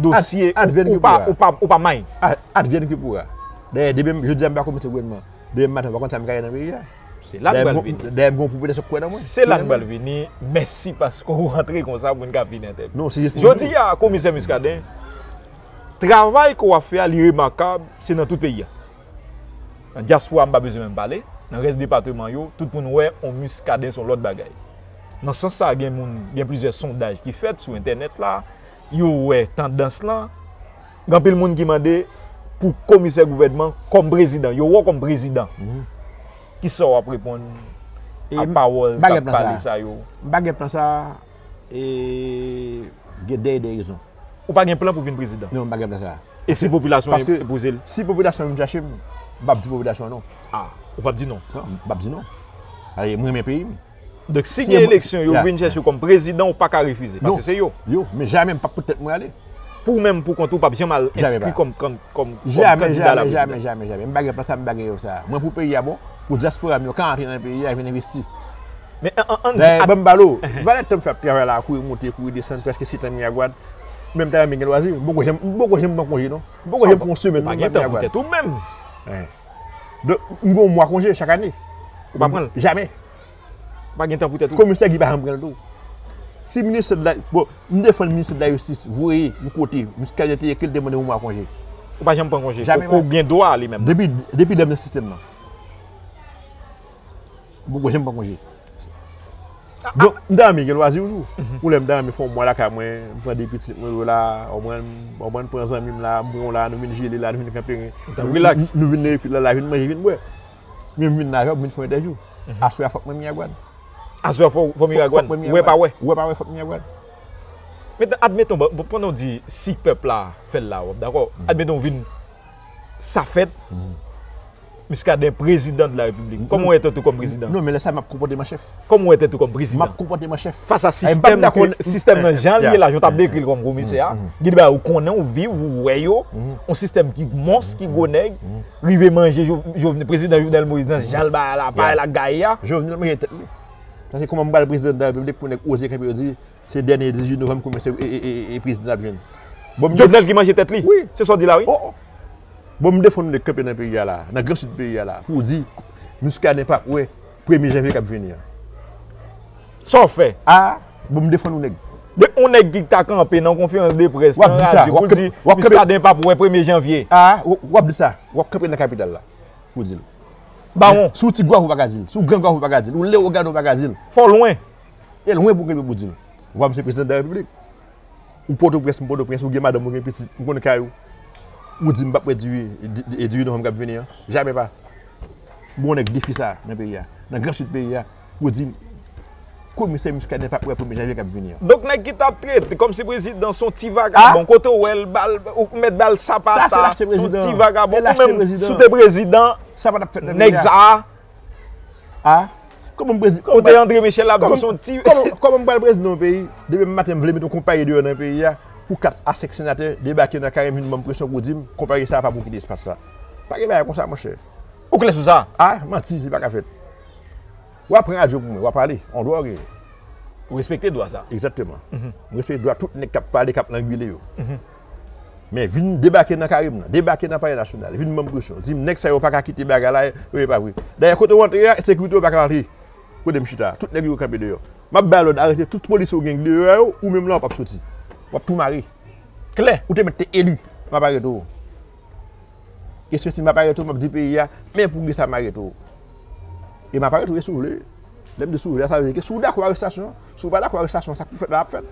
dosye ou pa may. Advyen ke poura. Dèyè demen m jodi a m pa konn mete gouvènman. Demen m maten m pa konn sa m ka ye nan peyi a. Se la m pral vini. Dèyè m gen yon popilasyon k kwè nan mwen. Se la m pral vini. Mèsi paske ou rantre konsa pou n ka vini entèvye. Non se jis pou. Jodi a komisè Muscadin, travay ke w ap fè a li remakab se nan tout peyi a. Nan dyaspora m pa bezwen menm pale. Nan rès depateman yo tout moun wè on Muscadin se yon lòt bagay. Nan sans sa gen moun gen plizyè sondaj ki fèt sou entènèt la. yo wè tandans lan, gen anpil moun ki mande pou komisè gouvènman kòm prezidan, yo wè w kòm prezidan. Ki sa w ap reponn ak pawòl k ap pale sa yo? M pa gen plan sa a, e gen de rezon. Ou pa gen plan pou vin prezidan? Non, m pa gen plan sa a. E si popilasyon an enpoze l? Si popilasyon an vin chache m, m p ap di popilasyon an non. A, ou p ap di non? Non, m p ap di non. Paske m renmen peyi m. Donk si gen eleksyon yo vin chèche w kòm prezidan ou paka refize paske se yo. Yo, men jamè m pap pou tèt mwen ale. Pou w menm pou kont ou pap janm al enskri kòm kandida a la prezidan. Jamè, jamè, jamè, m pa gen plan sa, m pa gen rèv sa. Mwen pou peyi a bon, pou dyaspora m yo ka antre nan peyi a vin envesti. Dayè banm pale w, valè tan m fè ap travay la, kouri monte, kouri desann, prèske setan Miragwàn, men m ta renmen gen lwazi, m poko janm pran konje non. M poko janm pran yon semèn nan Miragwàn. Ou pa gen tan pou tèt ou menm. Don, m gen yon mwa konje chak ane. Ou pa pran l? Jamè. Ou pa gen tan pou tèt ou? Komisè Guy pa janm pran l tou. Si ministè de la, bon, m defann ministè de la jistis voye m kote Muscadin te ye ke l te mande yon mwa konje. Ou pa janm pran konje? Jamè. Ke w gen dwa li menm? Depi, depi lè m nan sistèm nan. M poko janm pran konje. Donk, m ta renmen gen lwazi oujou. Ou lè m ta renmen fè yon mwa lakay mwen, m pran 2 pitit mwen yo la, konprann, konprann, pran zanmi m la, m pran w la, nou vin jele la, nou vin kanperen. Ou ta rilaks. Nou vin nan ekip la la, vin manje, vin bwè. Men m vin nan avyon, m vin fè yon entèvyou. Aswè a fòk mwen Miragwàn. Aswè a fòk ou Miragwàn? Fòk mwen Miragwàn. Wè pa wè? Wè pa wè, fòk m Miragwàn. Men, admeton, bon, pandan w di si pèp la fè l la, w ap dakò? Admeton w vin sa fèt. Muscadin prezidan de la repiblik. Koman ou wè tèt ou kòm prezidan? Non men lè sa map konpòte m an chèf. Koman ou wè tèt ou kòm prezidan? Map konpòte m an chèf. Fas a sistèm nan jan li ye la, jan w tap dekri l kòm komisè a, gen de bagay ou konnen, ou viv, ou wè yo, yon sistèm ki mons, ki gwo nèg, rive manje Jovenel, prezidan Jovenel Moïse nan jan l bagay la, bagay la gaye a. Jovenel manje tèt li. Sa se kòman m pral prezidan de la repiblik pou nèg oze kenbe yo di Se dènye 18 novanm koumen se e prezidan nap jwenn. Jovenel ki manje tèt li? Wi. Se sa w di la wi? Oh oh. Bon m defann nou lè kanpe nan peyi a la, nan gran sid peyi a la pou w di Muscadin pa kwè premye janvye kap vini an. Sa w fè? A, bon m defann ou nèg. De yon nèg ki ta kanpe nan konferans de près nan radyo pou l di Muscadin pa kwè premye janvye. A, wap di sa. Wap kanpe nan kapital la pou w di l. Bawon. Si w ti gwav ou pa ka di l. Si w gran gwav ou pa ka di l. Ou lewogàn ou pa ka di l. Fò w lwen. E lwen pou kenbe pou di l. Vwa m se prezidan de la repiblik. Ou potoprens, m potoprens, ou gen madanm, ou gen pitit, m konn kay ou. Ou di m pap wè diri, diri novanm k ap vini an. Jamè pa. Gen yon nèg defi sa nan peyi a, nan gran sid peyi a, pou di komisè Muscadin pap wè premye janvye k ap vini an. Donk nèg ki t ap trete kòm si prezidan s on ti vagabon, kote w wè l ba l, ou mèt ba l sapata, s on ti vagabon, ou menm si w te prezidan, nèg sa a. A? Kòman m prezidan? Kote Andre Michel ap jwe son ti. Kòman m pral prezidan yon peyi? Demen maten m vle met yon konpayi deyò nan peyi a pou 4 a 5 senatè debake nan kay m vin ban m presyon pou di m konpayi sa a pa pou kite espas sa. Pa gen bagay kon sa monchè. Ou klè sou sa? A? Manti, li pa ka fèt. Wa pran radyo pou mwen, wa pale. On dwa ou genyen. Ou respekte dwa sa a? Egzakteman. M respekte dwa tout nèg k ap pale, k ap langwile yo. Men vin debake nan kare m nan, debake nan palè nasyonal, vin ban m presyon, di m nèg sa yo pa ka kite bagay la yo e pa vre. Dayè kote w antre a, sekurite yo pa ka antre kote m chita a, tout nèg yo yo kanpe deyò. M ap bay lòd arete tout polisye ou gen deyò yo, ou menm la ou p ap soti. W ap tou mare. Klè, ou te mèt te eli, m ap arete w. Eske si m ap arete w m ap di peyi a, men pou kisa m arete w? E m ap arete w e si w vle. Lè m di si w vle a, sa vle di ke si w dakò arestasyon, si w pa dakò arestasyon sa k pou fèt la ap fèt.